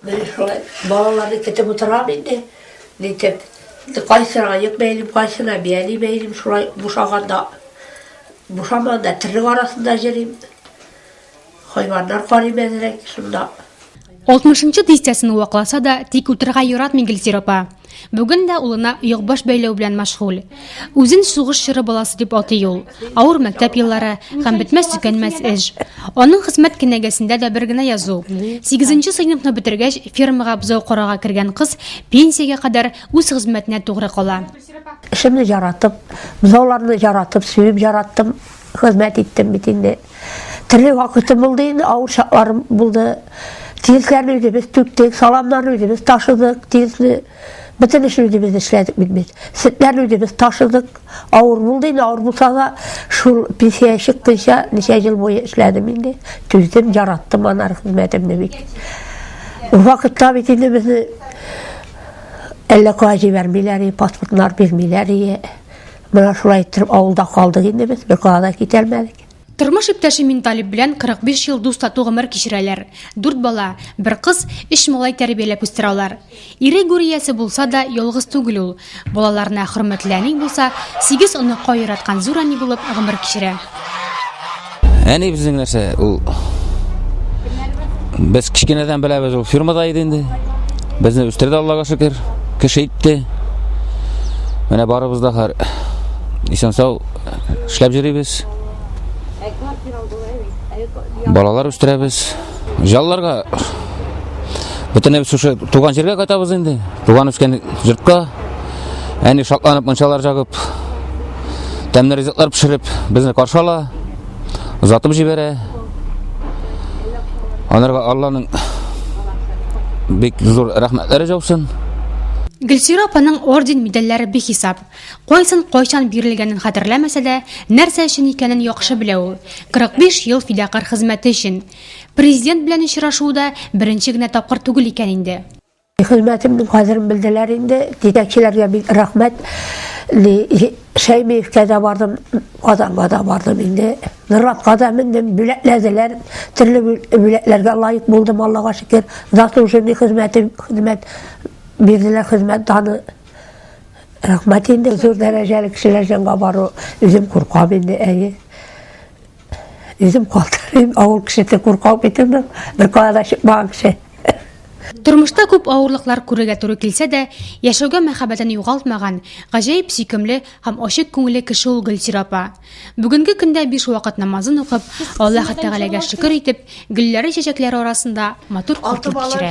Мин шулай балаларны көтеп утырам инде, нитеп. Кайсына аяк бәйлим, кайсына бияли бәйлим, шулай бушаганда, бушамаганда терлек арасында җөрим. Хайваннар карыйм әзрәк, шунда. Алтмышынчы дистәсен вакласа да, тик утырырга яратмый Гөлсир апа. Бүген дә улына йогбаш бәйләү белән мәшгуль. Үзен сугыш чоры баласы дип атый ул. Авыр мәктәп еллары һәм бетмәс-төкәнмәс эш. Аның хезмәт кенәгәсендә дә бер генә язу. Сигезенче сыйныфны бетергәч, фермага бозау карарга кергән кыз пенсиягә кадәр үз хезмәтенә тугры кала. Эшемне яратып, бозауларны яратып, сөеп яраттым. Хезмәт иттем бит инде. Төрле вакытым булды инде, авыр чакларым булды. Тигезләрне үзебез түктек, саламнарны үзебез ташыдык, тигезне бөтен эшне үзебез эшләдек бит без. Сөтләрне үзебез ташыдык. Авыр булды инде, авыр булса да, шул пенсия чыкканча ничә ел буе эшләдем инде. Түздем, яраттым анар хезмәтемне бит. Ул вакытта бит инде безне әллә кая җибәрмиләр, паспортлар бирмиләр. Менә шулай иттереп авылда калдык инде без, йокыга да китәлмәдек. Тормыш иптәше Минталип белән 45 ел дус-тату гомер кичерәләр. Дүрт бала, бер кыз, өч малай тәрбияләп үстерә алар. Ире гүр иясе булса да, ялгыз түгел ул. Балаларына хөрмәтле әни булса, сигез оныкка яраткан зур әни булып гомер кичерә. Әни безнең нәрсә ул Без кечкенәдән беләбез ул фирмада иде инде. Безне үстерде Аллага шөкер, кеше итте. Менә барыбыз да хәр исән сау эшләп йөрибез. Балалар үстерәбез. Җалларга бөтенебез шушы туган җиргә кайтабыз инде. Туган үскән йортка. Әни шатланып мунчалар жагып тәмле ризыклар пешереп безне каршы ала, озатып җибәрә. Анарга Алланың бик зур рәхмәтләре җаусын. Гөлсира апаның орден медальләре бихисап. Кайсын кайчан бирелгәнен хәтерләмәсә дә, нәрсә өчен икәнен яхшы белә ул. 45 ел фидакарь хезмәте өчен. Президент белән очрашуы да беренче генә тапкыр түгел икән инде. Хезмәтемнең кадерен белделәр инде. Җитәкчеләргә бик рәхмәт. Шәймиевкә дә бардым, Казанга да бардым инде. Нуратка да мендем, бүләкләделәр. Төрле бүләкләргә лаек булдым, Аллага шөкер. Заслуженный хезмәтем, хезмәт бирделәр, хезмәт даны. Рәхмәт инде. Зур дәрәҗәле кешеләр җанга бару, үзем куркам инде, әйе. Үзем калтырыйм, авыл кешесе куркау бит инде. Бер кая да чыкмаган кеше. Тормышта күп авырлыклар күрергә туры килсә дә, яшәүгә мәхәббәтен югалтмаган, гаҗәеп сөйкемле һәм ачык күңелле кеше ул Гөлсир апа. Бүгенге көндә биш вакыт намазын укып, Аллаһы Тәгаләгә шөкер итеп, гөлләре-чәчәкләре арасында матур күркә кичерә.